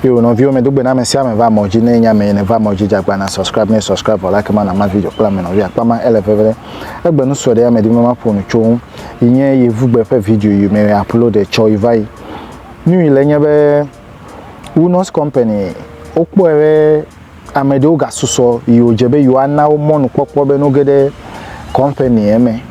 Yo nɔviwo me dogbe na ame sia ame va mɔ dzi ne nya me ne va mɔ dzi jagba na subscribe ne subscribe vɔ la kema na ma video kple ame nɔvi akpa ma ele veve ɖe egbe nu sɔ ɖe ame di me ma ƒo nu tso ŋu yi nye yevugbe ƒe video yi me upload ɖe tsɔ yi va yi nu yi le nye be Wunos company wokpɔe be Ame ɖewo gasusɔ yi wòdze be yewoana wo mɔnukpɔkpɔ be noge ɖe kɔmpani eme,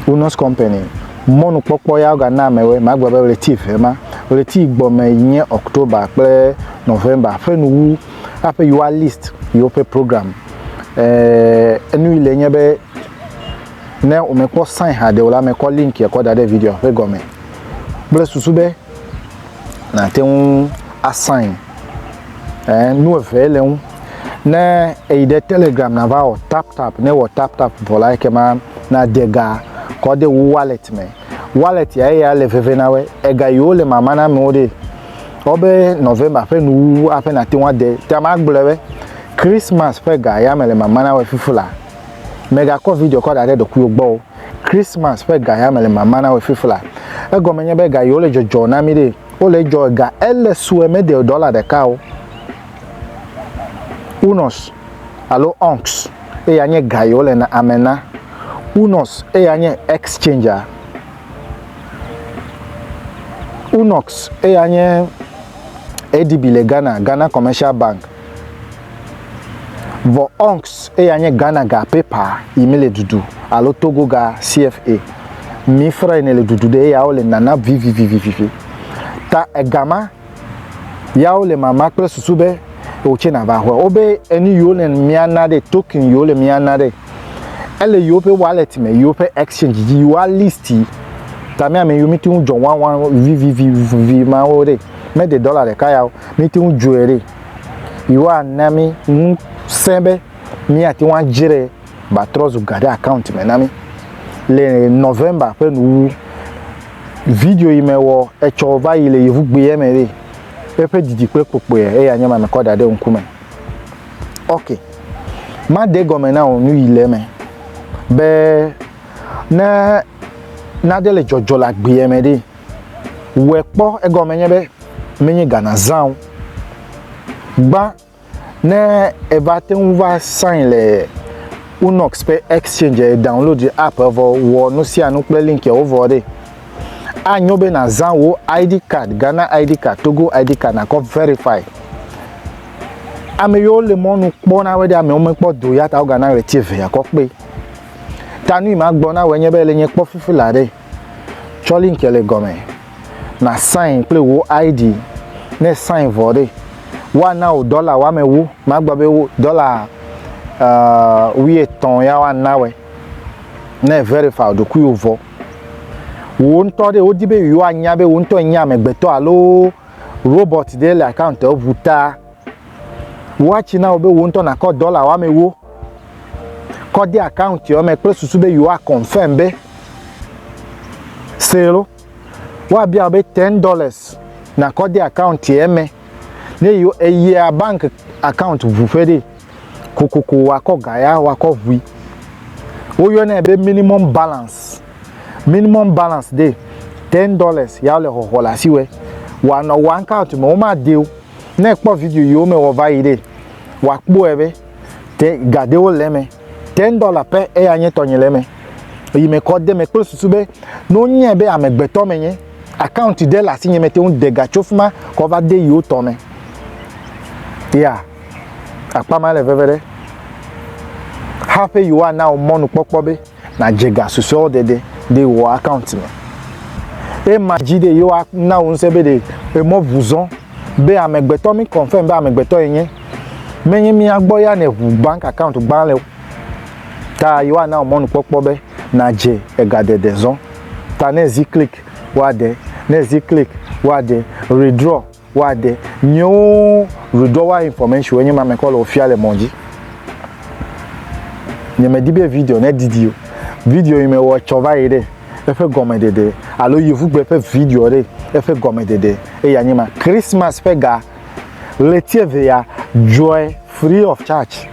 Unos Company. Mɔnukpɔkpɔ ya wogana amewoe, magblɔ be ɣleti eve ma. Ɣleti yi gbɔ me yi nye October kple November ƒe nuwu haƒe yewoa list yewoƒe program. Eeee enu yi le nye be ne wòmekpɔ sign haɖe o la, mekɔ link ya kɔ da ɖe videoa ƒe gɔme kple susu be nàte ŋu a sign. Eh, nu eve le ŋu. Ne eyi ɖe Telegram na va wɔ tap tap, ne wɔ tap tap vɔ la ekema na de ga kɔ de wo wallet me. Wallet ya eya le veve na we. Ega yi wo le mama na me wo de. Wo be November ƒe nu wu aƒe na te ŋu ade. Te ama gblɔ we Christmas ƒe ga ya me le mama na we fifi la. Mega kɔ video kɔ da ɖe ɖokui wo gbɔ. Christmas ƒe ga ya me le mama na we fifi la. Egɔme nye be ga yi wo le jɔjɔ na mi de. Wole jɔ ega ele sue me de dɔla ɖeka o. Unɔs alo ɔnks eya nye ga yi wole na ame na. Unɔs eya nye ɛksɛndzia. Unɔks eya nye ADB le Ghana, Ghana Kɔmɛshal Bank. Vɔ ɔnks eya nye Ghana ga paper yi mi le dudu alo Togo ga cfa mi fre ne le dudu ɖe eya wo le nana vivivivivivi. Ta ega ma ya wo le mama kple susu be o tse na va hwe wo be enu yi wo le mia na ɖe token yi wo le mia na ɖe. ele yewoƒe wallet me, yewoƒe exchange dzi, yewoa list yi. Ta mía me yiwo míte ŋu dzɔ wawa vivivivi mawo ɖe, mede dɔla ɖeka ya o, míte ŋu dzɔe ɖe. Yewoa na mí ŋusẽ be míate ŋu adzre ba trɔ zu ga ɖe account me na mí. Le November ƒe nuwuwu, video yi me wɔ etsɔ va yi le yevugbea me ɖe, eƒe didi kple kpokpoea eya nye ma mekɔ da ɖe ŋkume. Ok, made gɔme na wò nu yi le eme be ne nade le dzɔdzɔ le agbeɛ me ɖi. Wɔe kpɔ, egɔme nye be menye Ghana zã o. Gbã ne eva te ŋu va sign le Unox ƒe exchange, download app vɔ wɔ nu sia nu kple link wo vɔ ɖe. anyo be nàzã wò ID card, Ghana ID card, Togo ID card nàkɔ verify. Ame yiwo le mɔnu kpɔ na wɔ ɖe amewo mekpɔ do ya ta wogana ɣleti eve akɔ kpe. Ta nu yi ma gblɔ na wɔ nye be le nye kpɔ fifi la ɖe tsɔ link le gɔme na sign kple wò ID ne sign vɔ ɖe woana wò dɔla woame wu magblɔ be wo dɔla uh, wuietɔn ya woana wɔ ne verify ɖokuiwo vɔ. Wò ŋutɔ ɖe, wodi be yewoanya be wò ŋutɔ ènye amegbetɔ alo robɔt ɖe le akawuntiwò ŋu ta, woatsi na wò be wò ŋutɔ nàkɔ dɔla woamewo kɔ de akawuntiwò me kple susu be yewoakɔnfɛm be see lɔ. Woabia wò be ten dɔlas nàkɔ de akawuntiwò me ne yewo eyia banki akawunti ŋu ƒe ɖee. kokoko wakɔ ga ya wakɔ ʋui. Woyɔnɛ be minimum balance. Minimum balance ɖe ten dollars ya le xɔxɔ le asi wɛ. Wanɔ wa account me woma de o. Ne kpɔ video yi wo me wɔ va yi ɖe wa kpɔe be te ga de wo le me. Ten dollar pe eya nye tɔnye le me. Yi me kɔ de me kple susu be ne wonye be amegbetɔ me nye account de le asi nye me te ŋu de ga tso fima kɔ va de yi wo tɔ me. Yeah. Akpa ma le veve ɖe hafi yewoana wò mɔnukpɔkpɔ be nàdze ga susɔewo dede ɖe wò akaunti me. Ema dzi ɖe yewoana wò ŋusẽ be ɖe emɔ ʋu zɔ be amegbetɔ mi confirm be amegbetɔ yenye. Menye mía gbɔ ya nèʋu bank akaunti gbã le o. Ta yewoana wò mɔnukpɔkpɔ be nàdze egadede zɔ. Ta ne ezi klik, woaɖe. Ne ezi klik, woaɖe. Redraw. Woade nyewo redowa information wo nye ma mekɔ le ofia le mɔ dzi. Nye me di be video ne didi o. Video yi me wɔ tsɔ va yi ɖe eƒe gɔme ɖeɖe alo yevugbe ƒe video ɖe eƒe gɔme ɖeɖe eya nye ma. Christmas ƒe ga ɣleti eve ya dzɔe free of charge.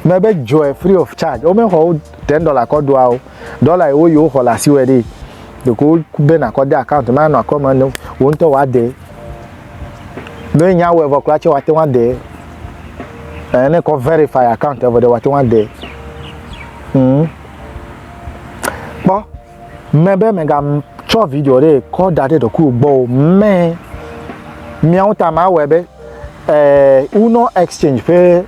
Me be dzɔe free of charge. Wo me xɔ wo ten dollar kɔ ɖoa o. Dɔla yi woyi woxɔ le asiwɔe ɖi. Ɖeko woku be nakɔ de account me anɔ akɔme ne wò ŋutɔ wòade. Ne nya wɔe vɔ kura tsɛ woate ŋu ade. Ɛ ne kɔ verify account vɔ ɖe woate ŋu ade. Mm. Kpɔ mɛ be mègatsɔ video ɖe kɔ da ɖe ɖokuiwò gbɔ o. Mɛ miawo ta mawɔe be eh, Uno Exchange ƒe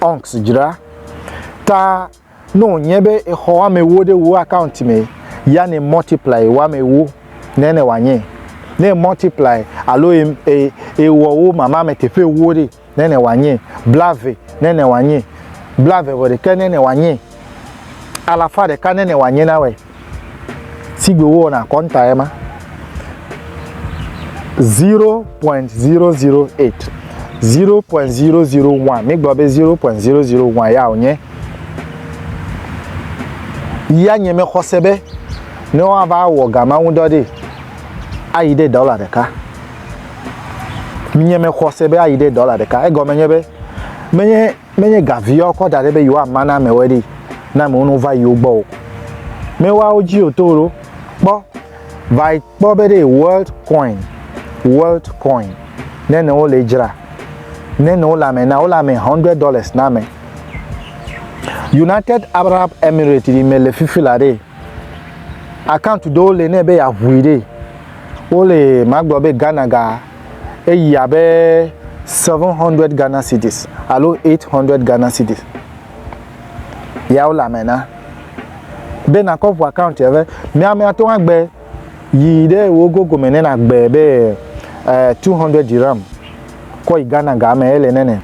Ɔnks dzra ta ne wònye be exɔ woame ewo ɖe wò akaɔnt me ya ne multiply woame ewo ne ne wòanye. Ne e multiply alo e, e, ewɔ wo mama me teƒe ewo ɖe ne ne wòanye. Blave ne ne wòanye. Blave vɔ ɖekɛ ne ne wòanye. Alafa ɖeka ne ne wòanye na wòe. Sigbe wowɔna kɔntae ma. 0.008, 0.001, mígblɔ be 0.001 ya wònye. Ya nye mexɔse be ne woava wɔ gama ŋu dɔ ɖe ayi ɖe dɔla ɖeka. Nye mexɔse be ayi ɖe dɔla ɖeka. Egɔme nye be menye Menye ga vie woakɔ da ɖɛ be yewoama na amewɔe ɖee ne amewo no va yewo gbɔ o. Mewa wo dzi o to ɖo. Kpɔ, va yi kpɔ be ɖee world coin, world coin, ne ne wole edzra, ne ne wole ame na, wole ame hundred dollars na ame. United Arab Emirates yi mele fifi la ɖee, account ɖewo le ne be yeaŋui ɖee, wole, magblɔ be Ghana ga. eyi abe 700 Ghana cedis alo 800 Ghana cedis. Ya wole ame na. Be nakɔ ʋu account ya be mi ame atɔ agbe yi ɖe wo gogo me ne nagbe be eh, 200 dirham kɔ yi Ghana ga me ele nene.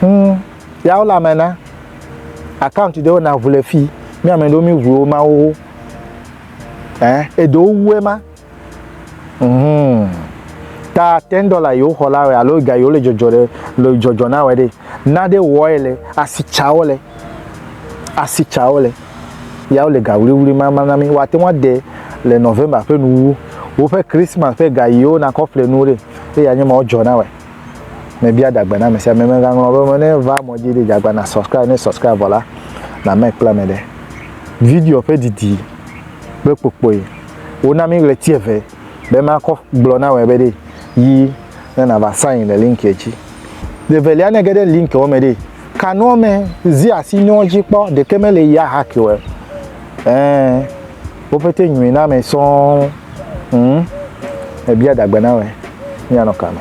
Hmm, ya wole ame na. Account ɖewo na ʋu le fi. Mi ame ɖewo mi ʋuwo ma wo. Eh, eɖewo wue ma. Mhm. Ta ten dollar yewo xɔ la wɛ alo ga yewo le dzɔdzɔ ɖe le dzɔdzɔ na wɛ ɖe. Na ɖe wɔe le asi tsawo le. Asi tsawo le. Yawo le ga wliwli ma ma na mi. Woate ŋu ade le November ƒe nuwuwu. Woƒe Christmas ƒe ga yewo nakɔ ƒle nuwo ɖe. Eye anye ma wodzɔ na wɛ. Mebia dagbe na ame sia ame. Megaŋlɔ be me ne va mɔ dzi ɖe dagba na subscribe ne subscribe vɔ la na me kple ame ɖe. Video ƒe didi kple kpokpoe. Wona mi ɣleti eve be makɔ gblɔ na wɔ be ɖe yi ne nava sign le linkia dzi. Ɖevelia ne ge ɖe linkia me ɖe ka nua me zi asi nua dzi kpɔ ɖeke me le ya haki wɔ. Ɛɛ wo pete nyui na me sɔɔ ŋ ebia dagbe na wɔ mia nɔ ka me.